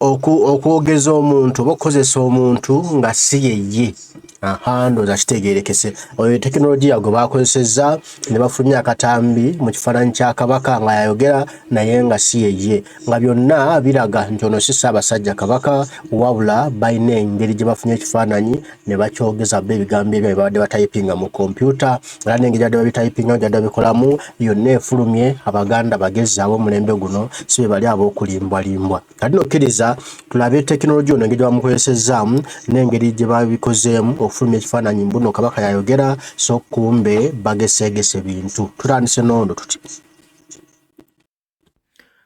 okwogeza omuntu oba okukozesa omuntu nga si yeye ahandoza kitegerekese oyo tekinologiya gwe bakozesezza ne bafulumya akatambi mu kifaananyi kya kabaka nga yayogera naye nga si yeye nga byonna biraga nti ono si ssaabasajja kabaka wabula balina engeri gye bafunye ekifaananyi ne bakyogeza bo ebigambo ebyo bibadde batayipinga mu kompyuta era n'engeri gyadde babitayipinga gyadde babikolamu yonna efulumye abaganda bagezi ab'omulembe guno si be bali ab'okulimbwalimbwa kati nokkiriza tulabe tekinologiya ono engeri gyebamukozesezaamu n'engeri gye babikozeemu okufulumya ekifaananyi mbuno kabaka yayogera so kumbe bageseegese bintu tutandise noondo tuti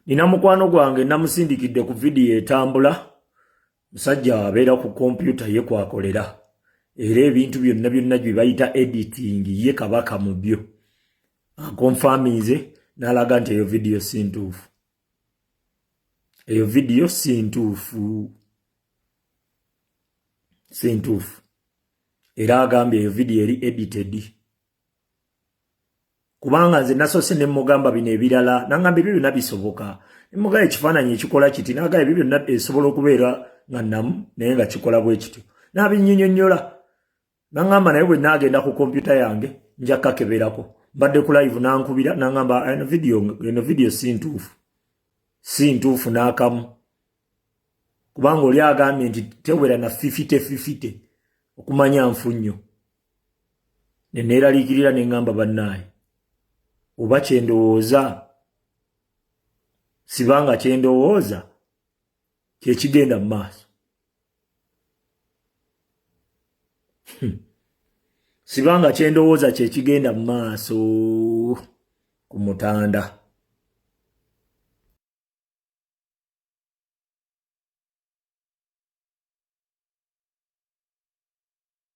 nina mukwano gwange namusindikidde ku vidiyo etambula musajja abeera ku kompyuta ye kwakolera era ebintu byonna byonna gye bayita editing ye kabaka mu byo akonfaminze n'alaga nti eyo vidiyo si ntuufu eyo vidiyo si ntuufu si ntuufu era agambye eyo vidiyo eri edited kubanga nze nasoose ne mugamba bino ebirala nangamba ebyo byonna bisoboka nemugaa ekifaananyi ekikola kiti naga ebyo byonna esobola okubeera nga namu naye nga kikola bwe kityo nabinyinyonyola nangamba naye bwe naagenda ku kompyuta yange nja kakeberako mbadde ku live nankubira nangamba eno vidiyo eno vidiyo si ntuufu si ntuufu n'akamu kubanga oli agambye nti tewera na fifite fifite okumanya nfu nnyo ne neeraliikirira ne ŋŋamba bannaaye oba kye ndowooza siba nga kye ndowooza kye kigenda mu maaso hmm. siba nga kye ndowooza kye kigenda mu maaso ku mutanda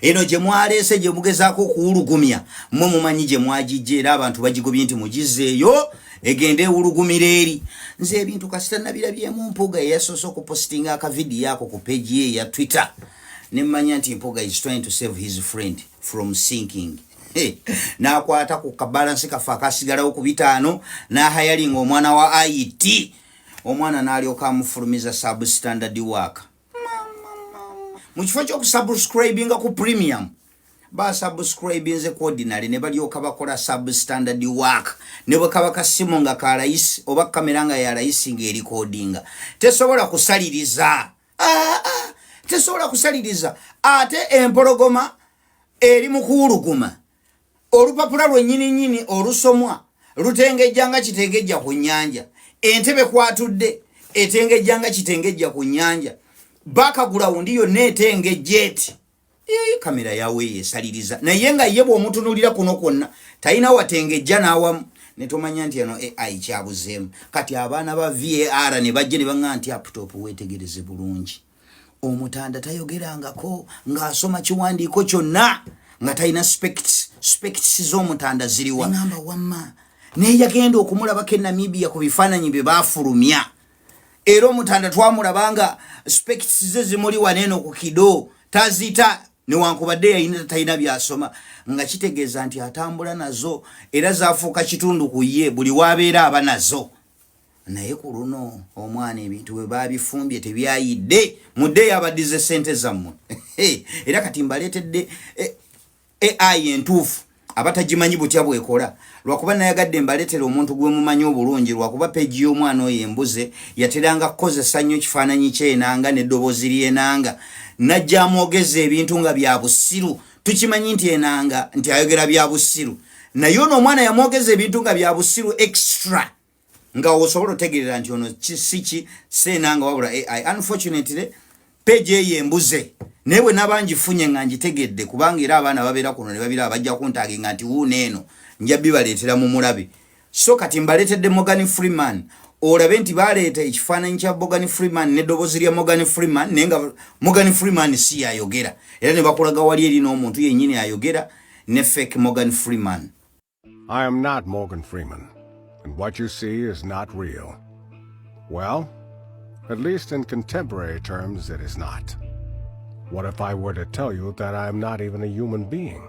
eno gye mwaleese gye mugezaako okuwulugumya mwe mumanyi gye mwagijja era abantu bagigobye nti mugizzeeyo egende ewulugumira eri nze ebintu kasita nabirabyemu mpuga eyasoose okupositinga akavidiyo ako ku peegi ye eya twitter ne mmanya nti mpuga is trying to save his friend from sinking n'akwata ku kabalansi kaffe akasigalawo ku bitaano n'ahayalinga omwana wa it omwana n'alyoka amufulumiza substandard work mu kifo kyokusubscribinga ku premium basubscribinze ku ordinary ne balyoka bakola substandard work ne bwe kaba kasimu nga ka layisi oba kamera nga ya layisi ng'erikodinga tesobola kusaliriza ah, ah, tesobola kusaliriza ate empologoma eri mu kuwuluguma olupapula lwennyini nnyini olusomwa lutengejja nga kitengejja ku nnyanja entebe kwatudde etengejja nga kitengejja ku nnyanja bakagulawundi yonna etengejja eti kamera yawe yesaliriza naye nga ye bwomutunulira kuno kwonna talina watengejja n'awamu netomanya nti eno ai kyabuzeemu kati abaana ba var ne bajja ne baŋa nti aputopu wetegereze bulungi omutanda tayogerangako ng'asoma kiwandiiko kyonna nga talina spects z'omutanda ziriwa ngamba wamma naye yagenda okumulabako e namibia ku bifaananyi bye baafulumya era omutanda twamulaba nga spects ze zimuli waneeno ku kido tazita newankubadde yalina tatalina byasoma nga kitegeeza nti atambula nazo era zafuuka kitundu ku ye buli waabeera aba nazo naye ku luno omwana ebintu bwe babifumbye tebyayidde mudde yabadize sente zammwe era kati mbaleetedde eh, ai entuufu abatagimanyi butya bwekola lwakuba nayagadde mbaletera omuntu gwe mumanyi obulungi lwakuba peji y'omwana oyo embuze yateranga kukozesa nnyo kifaananyi kyenanga neddoboozi lyenanga najja amwogeza ebintu nga bya busiru tukimanyi nti enanga nti ayogera bya busiru naye ono omwana yamwogeza ebintu nga bya busiru extra nga osobola otegerera nti ono kisiki seenanga wabula ai unfortunately peji eyo embuze naye bwe naba ngifunye nga ngitegedde kubanga era abaana babeera kuno ne babira bajja kuntaaginga nti wuuno eno nja bibaleetera mu mulabe so kati mbaletedde Morgan Freeman olabe nti baleeta ekifaananyi kya Morgan Freeman ne dobozi lya Morgan Freeman naye nga Morgan Freeman si yayogera era ne bakulaga wali eri n'omuntu yennyini ayogera ne fake Morgan Freeman I am not Morgan Freeman and what you see is not real well at least in contemporary terms it is not what if I were to tell you that I am not even a human being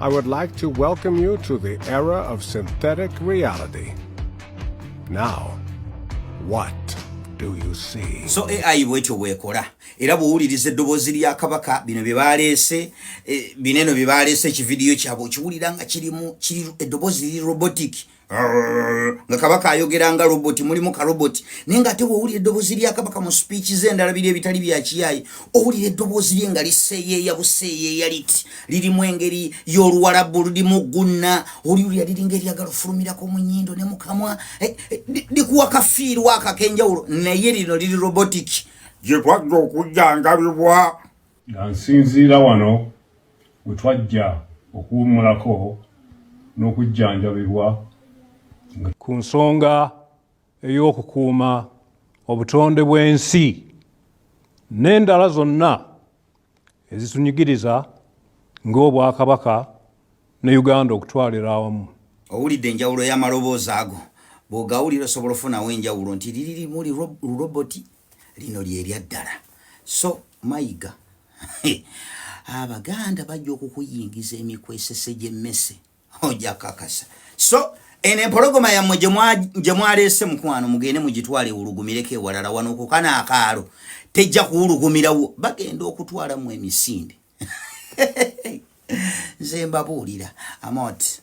I would like to welcome you to the era of synthetic reality. Now, what do you see? So AI bwetyo bwekola era bw'owuliriza eddoboozi lya kabaka bino bye baaleese eh, bineno bye baaleese ekividiyo kyabwe okiwulira nga kirimu eddoboozi liri robotic nga kabaka ayogera nga robot mulimu ka robot naye nga ate wowulira eddoboozi lya kabaka mu speech ze endalabira ebitali bya kiyayi owulira eddoboozi lye nga liseeyeeya buseeyeeya liti lirimu engeri y'oluwalabu lulimu gunna oliwulira liringa eryagala ofulumirako mu nyindo ne mukamwa eh, eh, likuwa kafiirwa akakenjawulo naye lino liri robotic gye kwagga okujjangabibwa nga nsinziira wano we twajja okuwummulako n'okujjanjabibwa ku nsonga ey'okukuuma obutonde bw'ensi n'endala zonna ezitunyigiriza ng'obwakabaka ne uganda okutwalira awamu owulidde enjawulo y'amaloboozi ago bw'ogawulira osobola ofunawo enjawulo nti liri limu liroboti lino lyeryaddala so mayiga abaganda bajja okukuyingiza emikwesese gyemmese ojja kakasa so eno empologoma yammwe gye mwaleese mukwano mugende mugitwala ewulugumireko ewalala wano kukana akaalo tejja kuwulugumirawo bagenda okutwala mu emisinde nze mbabuulira amot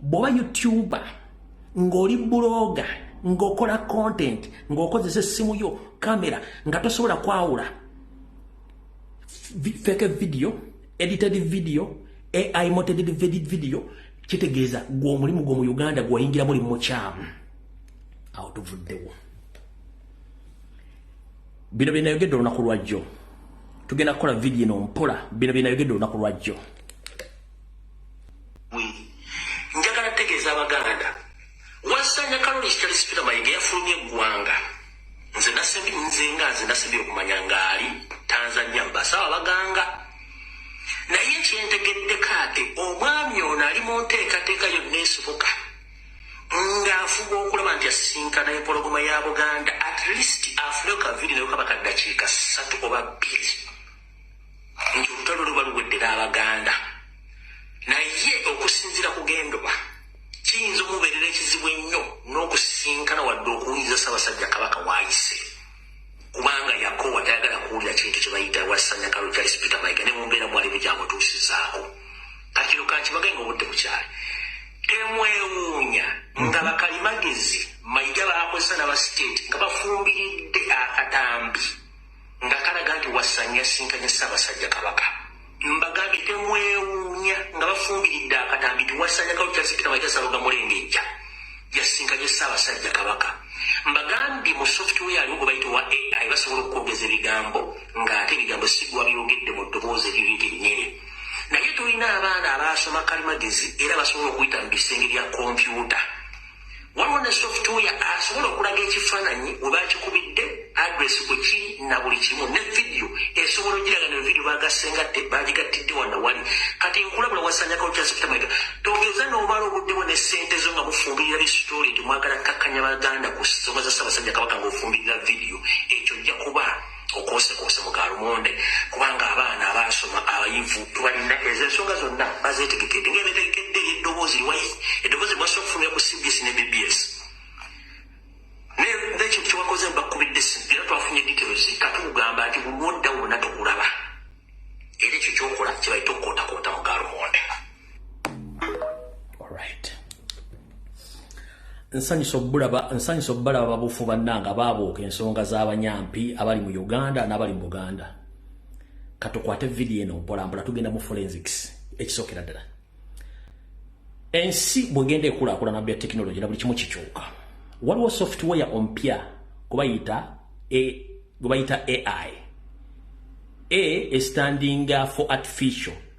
bwoba youtuber ng'oli buloga ng'okola content ng'okozesa essimu yo kamera nga tosobola kwawula feke video edited video ai moted video kitegeeza gwe omulimu gwo mu uganda gweyingira muli mukyamu awo tuvuddewo bino byenayogedde olunaku lwajjo tugenda kukola vidiyo eno mpola bino byenayogedde olunaku lwajjo njagala kutegeeza abaganda wasanya kalori kitali sipira mayige yafulumye eggwanga nze nasembi nze nga nze nasembi okumanya ngaali tanzania mbasawo abaganga naye kyentegedde kaate omwami ono ali mu nteekateeka yonna esibuka ng'afuba okulaba nti asinkana empologoma ya buganda at least afuneyo kaviri nayo kaba kaddakiika ssatu oba bbiri nti olutalo luba luwedde n'abaganda naye okusinzira kugendoba kiyinza omubeerera ekizibu ennyo n'okusisinkana wadde okuwuliriza ssabasajja kabaka waayise kubanga yakowa tayagala kuwulira kintu kye bayita wasanya kalo kya sipika mayiga ne mumbeera mwali bugyamutuusizaako kati kino kankibagae nga obudde bukyali temwewuunya nga mhm. bakalimagezi mayiga baakozesa nabasiteeti nga bafumbiridde akatambi nga kalaga nti Wasanya yasisinkanye Ssaabasajja Kabaka. Mbagambye temwewuunya nga bafumbiridde akatambi nti Wasanya Kaluta Sipika Mayiga Ssaalongo Mulengejja yasisinkanye Ssaabasajja Kabaka. Mbagambye mu software aliwo gwe bayita owa AI basobola okukwogeza ebigambo ng'ate ebigambo si gwe wabyogedde mu ddoboozi eriri lyennyini. Naye tulina abaana abaasoma kalimagezi era basobola okuyita mu bisenge bya kompyuta. Waliwo ne software asobola okulaga ekifaananyi we baakikubidde, address bwe ki na buli kimu ne vidiyo esobola ogiraga ne vidiyo baagasse nga te baagigattidde wano wali. Kati nkulabula wasaanyakawo kya Sipita Mayiga. Togeza n'obala obudde bwo ne ssente zo nga mufumbirira bisitooli nti mwagala kkakkanya Baganda ku nsonga za Ssaabasajja Kabaka ng'ofumbirira vidiyo. Ekyo ojja kuba. okwosekuose mu galumonde kubanga abaana abaasoma abayivu tubalina ezo ensonga zonna bazetegekede nga ebetegekedde eddoboozi liwayi eddoboozi bwasa okufunira ku cbs ne bbs nekintu kyewakoze bakubidde simu era twafunye details katugamba nti bulwodda wona tukulaba era ekyo kyokola kyebaita okukotakota mu galumonde nsanyusa obulaba nsanyusa obubalaba babufu bannanga baabuuka ensonga z'abanyampi abali mu uganda n'abali mu buganda katukwate vidiyo eno mpolampola tugenda mu forensics ekisookera ddala ensi bwegenda ekulaakulana bya tekinologi na buli kimu kikyuka waliwo software ompya gwebayita gwebayita ai a standing for artificial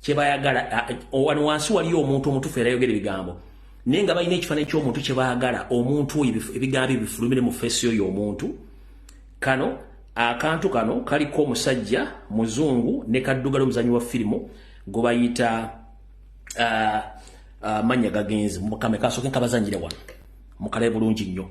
kyebayagala wano wansi waliyo omuntu omutufu era yogera ebigambo naye nga balina ekifananyi kyomuntu kyebagala omuntu oyo ebigambo ebifulumire mu feesi oyo omuntu kano akantu kano kaliko omusajja muzungu ne kaddugala omuzanyi wa firimu gwe bayita uh, uh, manya gagenzi mukame kasoke nkabazanyire wano mukalae bulungi nnyo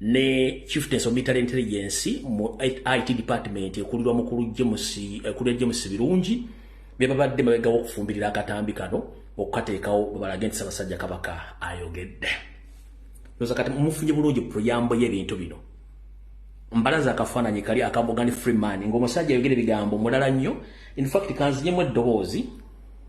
ne chieftains of military intelligence mu it department ekulirwa mukulu james ekulira james birungi bebabadde mabegawo okufumbirira akatambi kano okukateekawo bwebalage nti sabasajja kabaka ayogedde oza kati mufunye bulungi puyambo y'ebintu bino mbalaza akafaananyi kali akamugani freeman ngaomusajja ayogera ebigambo mulala nnyo infact kanzinyemu eddoboozi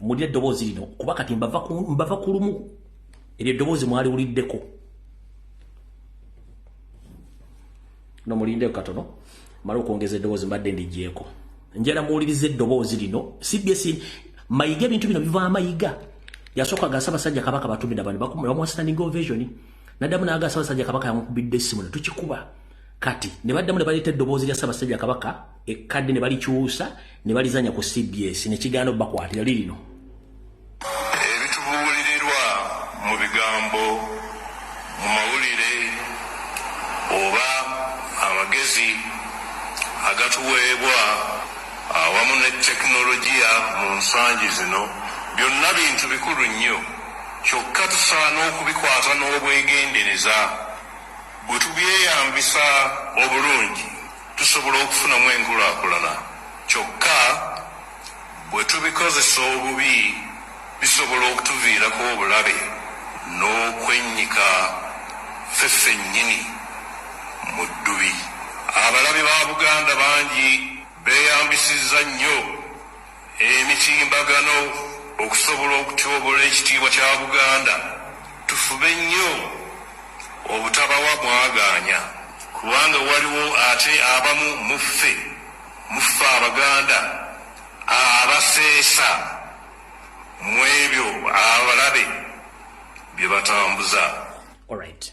mulira eddoboozi lino kuba kati mbava ku lumu eryo eddoboozi mwaliwuliddeko no mulindeko katono mala okwongeza eddoboozi mbadde ndigyeko njala muwuliriza eddoboozi lino cbs mayiga ebintu bino biva amayiga yasooka gasa basajja kabaka batumira bani bamuwastanning ovasion naddamu naga sabasajja kabaka yamukubidde essimu ne tukikuba kati ne baddamu ne baleeta eddoboozi lya sabasajja kabaka ekkadde ne balikyusa ne balizanya ku cbs ne kigaana obakwatira lirino ebitubuulirirwa mu bigambo mu mawulire oba amagezi agatuweebwa awamu ne tekinologiya mu nsangi zino byonna bintu bikulu nnyo kyokka tusaana okubikwata n'obwegendereza bwe tubyeyambisa obulungi tusobola okufunamu enkulaakulana. Kyokka, bwe tubikozesa obubi bisobola okutuviirako obulabe n'okwennyika ffe ffennyini mu ddubi. Abalabe ba Buganda bangi beeyambisizza nnyo. emitimbagano okusobola okutyobola ekitiibwa kya Buganda tufube nnyo obutabawa mwagaanya kubanga waliwo ate abamu mu ffe mu ffe Abaganda abaseesa mw'ebyo abalabe bye batambuza. Alright.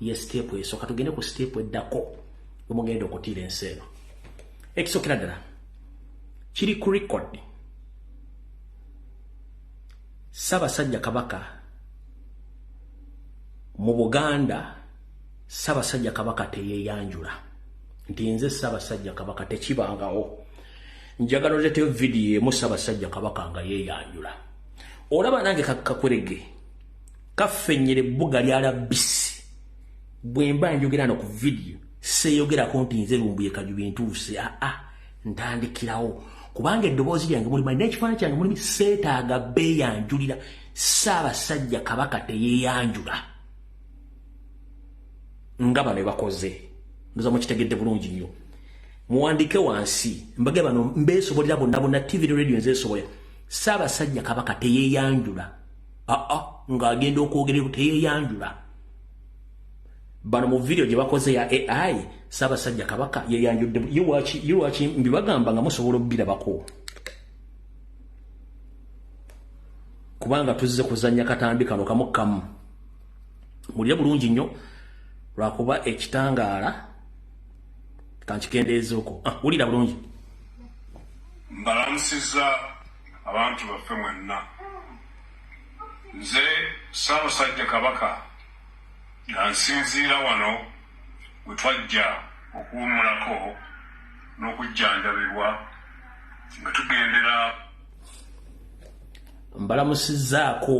ye siteepu esooka tugende ku siteepu eddako omugenda okutiira ensi eno ekisokera ddala kiri ku record ssabasajja kabaka mu buganda ssabasajja kabaka teyeyanjula nti nze ssabasajja kabaka tekibangawo njagala oleteyo vidiyo emu ssabasajja kabaka nga yeyanjula olaba nange kakakwerege kafenyere bbuga lya labisi bwemba njogera no ku vidiyo seeyogerako nti nze lumbuye kajubi ntuuse aa ah, ah, ntandikirawo kubanga eddoboozi lyange mulimu alina ekifaananyi kyange mulimu seetaaga beeyanjulira saabasajja kabaka teyeeyanjula nga bano ebakoze ndoza mukitegedde bulungi nnyo muwandike wansi mbage bano mbeesobolera bonna bonna tv ne radio nzeesobolera saabasajja kabaka teyeeyanjula aa ng'agenda okwogerera teyeyanjula bano mu vidiyo gye bakoze ya ai ssaabasajja kabaka yeyanjudde yiwaki mbibagamba nga musobola okubirabako kubanga tuzze kuzannya katambi kano kamu kamu mulire bulungi nnyo lwakuba ekitangaala kankikendeezaoko ah, wulira bulungi mbalamusiza Abantu baffe mwenna. Nze Ssaabasajja Kabaka nga nsinziira wano we twajja okuwummulako n'okujjanjabibwa nga tugendera mbalamusizzaako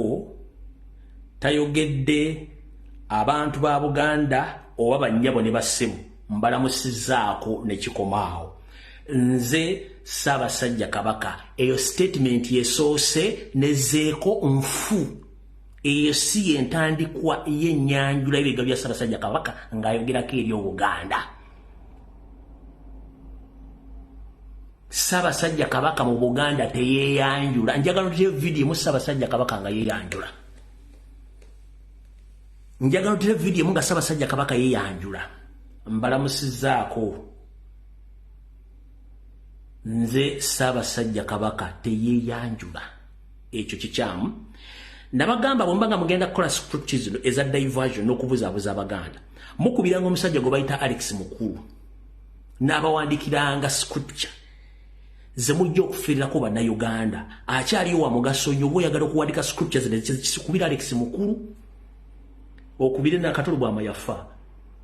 tayogedde abantu ba Buganda oba bannyabo ne bassebo mbalamusizzaako ne kikomaawo. nze ssaabasajja kabaka eyo sitatimenti yesoose nezeeko nfu eyo si yentandikwa yenyanjula ebiga bya ssaabasajja kabaka ng'ayogerako eri obuganda ssaabasajja kabaka mu buganda teyeyanjula njagala oteyo vidiyo mu ssaabasajja kabaka nga yeyanjula njagala oteyo vidiyo mu nga ssaabasajja kabaka yeyanjula mbalamusizaako nze ssaabasajja kabaka teyeeyanjula ekyo kikyamu nabagamba bwemba nga mugenda kukola script zino eza diversion n'okubuzaabuza abaganda mukubiranga omusajja gwe bayita alex mukulu n'abawandikiranga scripture ze mujja okufirirako bannayuganda akyaliyo wa mugaso nnyo oba oyagala okuwandika scripture zino zikikubira alex mukulu okubire nakatolo bwama yafa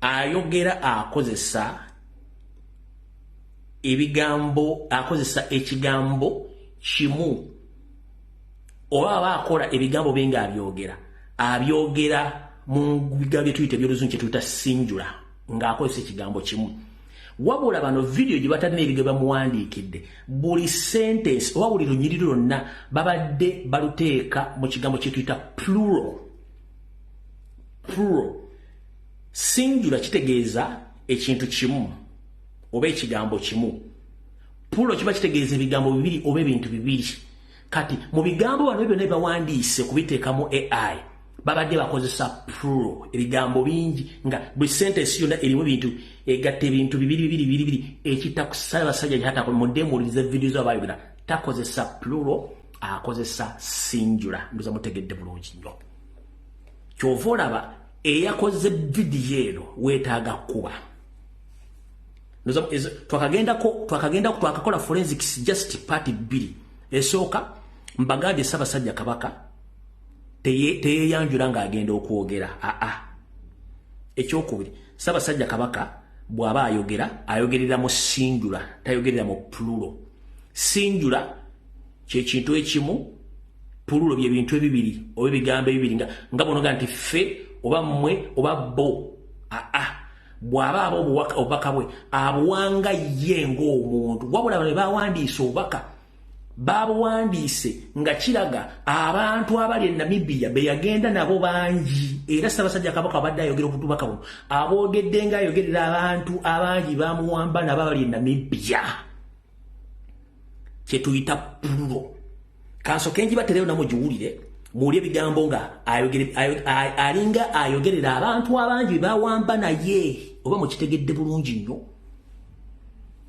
ayogera akozesa ebigambo akozesa ekigambo kimu oba aba akola ebigambo bye ng'abyogera abyogera mu bigambo bye tuyita ebyoluzungu kye tuyita sinjula ng'akozesa ekigambo kimu wabula bano vidiyo gye batalina ebigambo bamuwandiikidde buli sentensi oba buli lunyiriri lwonna babadde baluteeka mu kigambo kye tuyita plural plural sinjula kitegeeza ekintu kimu oba ekigambo kimu pulo kiba kitegeeza ebigambo bibiri oba ebintu bibiri kati mu bigambo wano byona bibawandiise kubiteeka mu ai babadde bakozesa pulo ebigambo bingi nga buli sentesi yona erimu bintu egatta ebintu bibiri bibiri bibiri bibiri ekitakusala basajja yatako mudemuulize vidiyo zo abayogera takozesa pulo akozesa sinjula nduza mutegedde bulungi nnyo kyova olaba eyakoze vidiyo eno wetaaga kukuba twakagendako twakakola forensics just party bbiri esooka mbagambye ssabasajja kabaka teyeyanjula ng'agenda okwogera aa ekyokubiri ssabasajja kabaka bw'aba ayogera ayogerera mu sinjula tayogerera mu pululo sinjula kye kintu ekimu pululo bye bintu ebibiri oba ebigambo ebibiri nga nga bonoga nti ffe oba mmwe oba bo aa ah, ah. bw'aba aba obubaka bwe abuwanga ye ng'omuntu wabula bano bawandiise obubaka baabuwandiise nga kiraga abantu abali e namibiya be yagenda nabo bangi era ssabasajja kabaka abadde ayogera obutubaka buno aboogedde ng'ayogerera abantu abangi bamuwamba nabo abali e namibiya kyetuyita pululo kanso kenji batereyo namo giwulire muwulire ebigambo nga alinga ayogerera abantu abangi bebawamba naye oba mukitegedde bulungi nnyo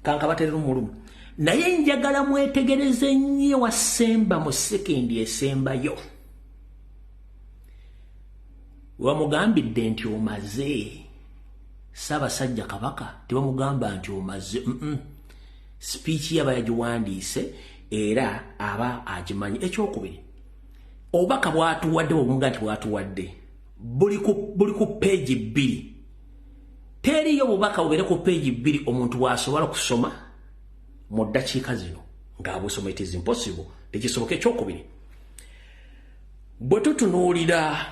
kanka baterera omulumu naye njagala mwetegereze nnyo wasemba mu sekendi esembayo wamugambidde nti omaze ssaabasajja kabaka tebamugamba nti omaze mm -mm. sipiiki yaba yagiwandiise era aba agimanyi ekyokubiri obubaka bwatuwadde bwebuga nti bwatuwadde buli ku peegi bbiri teriyo obubaka bubeere ku peegi bbiri omuntu bwasobola okusoma mu ddakiika zino ng'abusoma it is impossible tekisoboka ekyokubiri bwe tutunuulira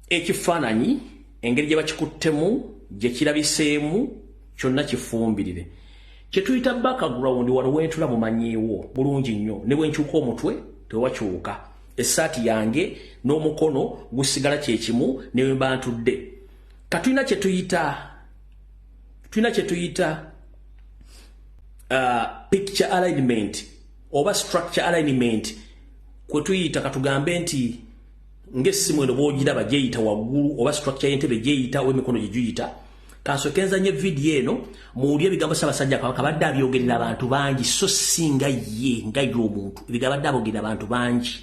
ekifaananyi engeri gye bakikuttemu gye kirabiseemu kyonna kifumbirire kye tuyita background wano wentula mumanyiiwo bulungi nnyo ne bwe nkyuka omutwe tewakyuka essaati yange n'omukono gusigala kye kimu ne bwe mba ntudde ka tulina kye tuyita tulina kye tuyita uh, picture alignment oba structure alignment kwe tuyita katugambe nti ng'essimu eno bw'ogiraba gyeyita waggulu oba structure y'entebe gyeyita oba emikono gye giyita kansooke nzanye vidiyo eno muwulire ebigambo ssaabasajja kabaka abadde abyogerera abantu bangi so si nga ye nga ye omuntu ebigambo abadde abogerera abantu bangi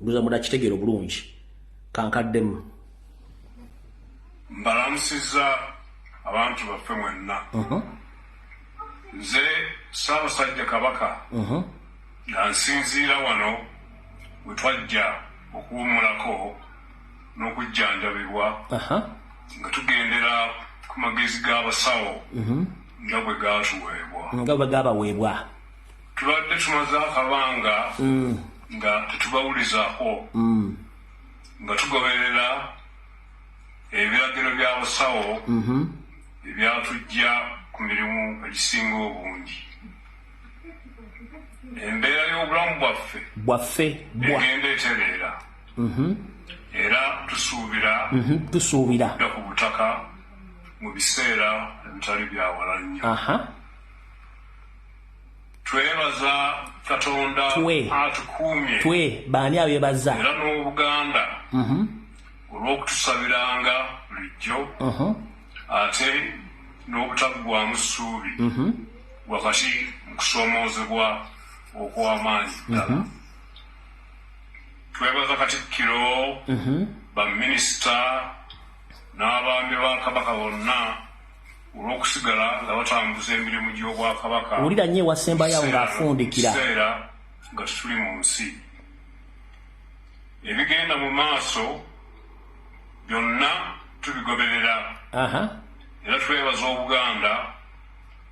luza muna kitegeera obulungi kankaddemu mbalamusiza abantu baffe mwenna uh-huh. nze ssaabasajja kabaka uh-huh. Nga nsinziira wano we twajja okuwummulako n'okujjanjabibwa nga tugendera ku magezi g'abasawo mhm. nga bwe gaatuweebwa nga bwe gaabaweebwa tubadde tumaze akabanga mm. nga tetubawulizako mm. nga tugoberera ebiragiro by'abasawo mhm. ebyatujja ku mirimu egisinga obungi embeera y'obulamu bwaffe bwaffe egenda etereera mhm. era tusuubira mhm, tusuubira ku butaka mu biseera ebitali byawala nnyo twebaza katonda atukuumye twe baani abebaza era n'obuganda mhm. olw'okutusabiranga bulijjo ate n'obutaggwamu ssuubi mhm. wakati mu kusoomoozebwa okw'amaanyi ddala mhm. twebaza katikkiro mhm. baminisita n'abaami ba kabaka bonna olw'okusigala nga batambuza emirimu gy'obwakabaka wulira nnyo ewasembayo ng'afundikira kiseera nga tetuli mu nsi ebigenda mu maaso byonna tubigoberera era twebaza obuganda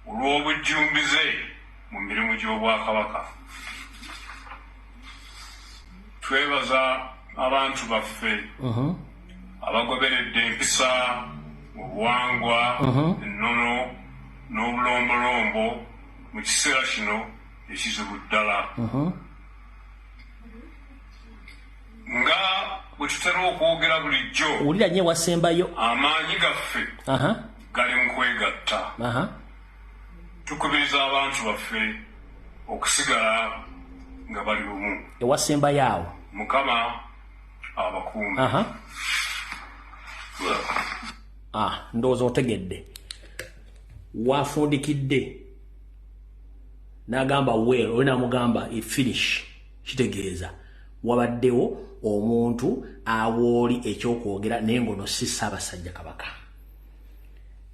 olw'obujjumbize mu mirimu gy'obwakabaka twebaza abantu baffe abagoberedde empisa obuwangwa ennono n'obulombolombo mu kiseera kino ekizibu ddala nga bwe tutera okwogera bulijjo wulira nyo ewasembayo amaanyi gaffe gali mu kwegatta tukubiriza abantu baffe okusigala nga bali bumu ewasembayo awo mukama abakuumi ah, ndowooza otegedde wafundikidde nagamba well oli namugamba efinish kitegeeza wabaddewo omuntu awooli ekyokwogera naye ngono si ssaabasajja kabaka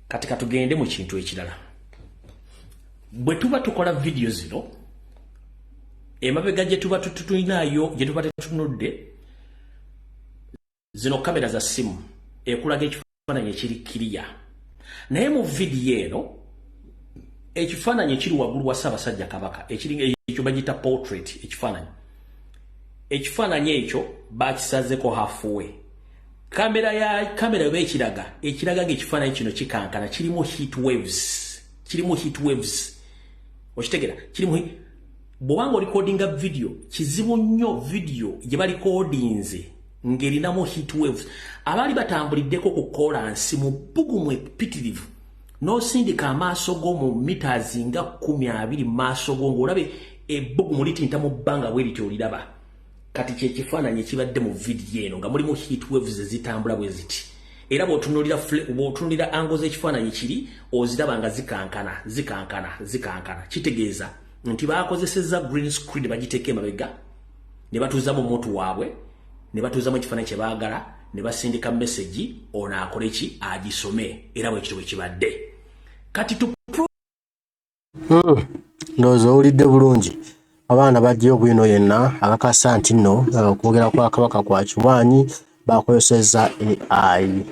kati katugende mu kintu ekirala bwe tuba tukola vidiyo zino emabega gye tuba tututulinaayo gye tuba tetutunudde zino kamera za simu ekulaga ekifaananyi ekiri kiriya naye mu vidiyo eno ekifaananyi ekiri waggulu wa ssaabasajja kabaka ekyo bagiyita portrait ekifaananyi ekifaananyi ekyo bakisazeko hafuwe kamera ya kamera oba ekiraga ekiraga ngaekifaananyi kino kikankana kirimu heat waves kirimu heat waves okitegera kirimu bwoba nga olikodinga vidiyo kizibu nnyo vidiyo gye balikodinze ng'erinamu heat waves abaali batambuliddeko ku kolansi mu bbugumu epitirivu n'osindika amaaso go mu mitas nga kumi abiri mu maaso go ng'olabe ebbugumu litinta mu bbanga bwe lityo oliraba kati kyekifaananyi ekibadde mu vidiyo eno nga mulimu heat waves ezitambula bwe ziti era bwotunulira ango z'ekifaananyi kiri oziraba nga zikankana zikankana zikankana kitegeeza nti bakozesezza green screen ne bagiteeka emabega ne batuuzamu omuntu waabwe ne batuuzamu ekifaananyi kye baagala ne basindika mesegi ono akole ki agisome era bwekityo bwe kibadde kati hmm. ndowooza owulidde bulungi abaana bajjayo bwino yenna akakasa nti nno eh, okwogera kwa kabaka kwa kiwaanyi bakozesezza ai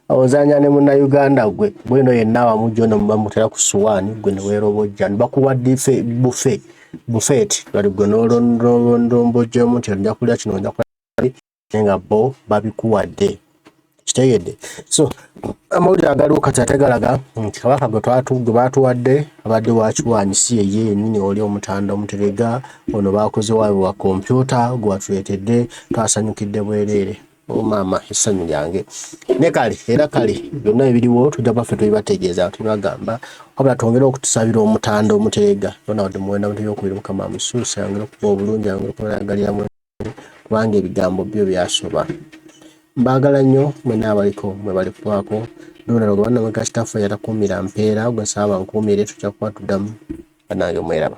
ozanya ne muna Uganda gwe bwino yenna wamu jono mubamutera ku suwani gwe newerobojja bakuwa dife bufe bufet bali gwe nolondombojjemu nti ojja kulya kino ojja kulya nga bo babikuwadde kitegedde so amawulire agaliwo kati ate galaga nti kabaka gwe twatugwe batuwadde abadde wakiwanyi si yeye yenyini oli omutanda omuterega ono bakoze wawe wa kompyuta gwatuletedde twasanyukidde bwereere Oh, maama essanyu lyange ne kale era kale byonna ebiriwo tujja baffe tubibategeeza tubibagamba wabula twongere okutusabira omutanda omuteega bona wadde muwenda mutega okubiri mukama amusuuse ayongere okuba obulungi ayongere okubalagalira mu kubanga ebigambo byo byasoba mbaagala nnyo mwena abaliko mwe bali kubaako ndonalo gwe banna mweka kitaffe yatakuumira mpeera gwe nsaba nkuumire tujja kuba tuddamu banange mweraba